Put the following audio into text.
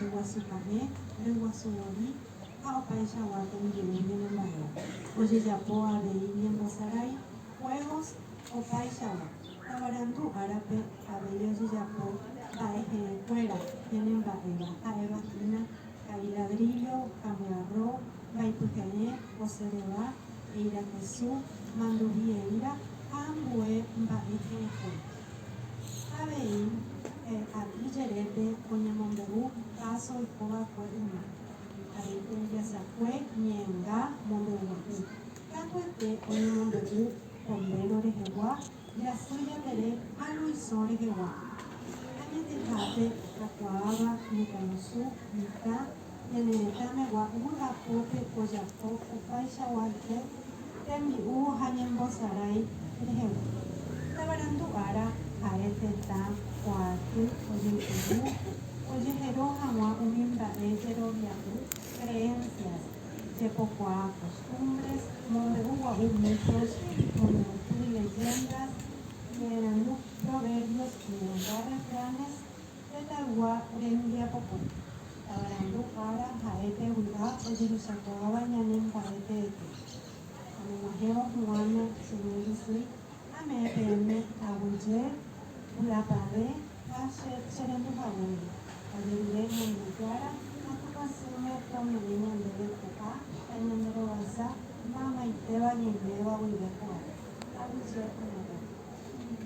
reguasu pahẽ, reguasu voi ha opaichagua tembi'u ñane mba'e, ojejapo avei ñembosarái, juegos, opaichagua, tavarandu árape avei ojejapo mba'e heẽ kuéra ñane mba'éva ha'éva hína ka'i ladrillo, kamiarro, mbaipy heẽ, osereva, eirakesu, manduvi eíra ha ambue mba'e he'ẽkue. Avei he'i jerépe oñemombe'u káso oiko va'ekue yma, avei tembiasakue ñe'ẽnga mombe'uguapi. Katuete oñemombe'u pombéro rehegua, jasy japere ha luisõ rehegua. Añetehápe kakuaáva mitãrusu, mitã. Ñane retãme gua'u ha pópe ojapo opaichagua hye tembi'u ha ñembosarái rehegua. Tavarandu ára ha'e tetã kuaaty ojeipuru ojehero hag̃ua umi mba'e jerovia'u, creencias, jepokuaa, costumbres, mombe'u gua'u mitos, iñemoñe'ẽty, leyendas, ñe'ẽrandu, proverbios, ñe'ẽrenda, refranes, Tetãygua rembiapokue. Tavarandu ára ha'e pe vy'a ojehechakuaáva ñane mba'e teete. Amog̃uahẽvo Juana, Señor Isy, ame'ẽ peẽme aguyje, vy'apavẽ ha che cherendu haguére, ajerure ñandejára ha tupãsýme ome'ẽ ñandéve pu'ã ha ñanderovasa maymaiteva ñaiméva guive kuaa. Aguyje añatépe.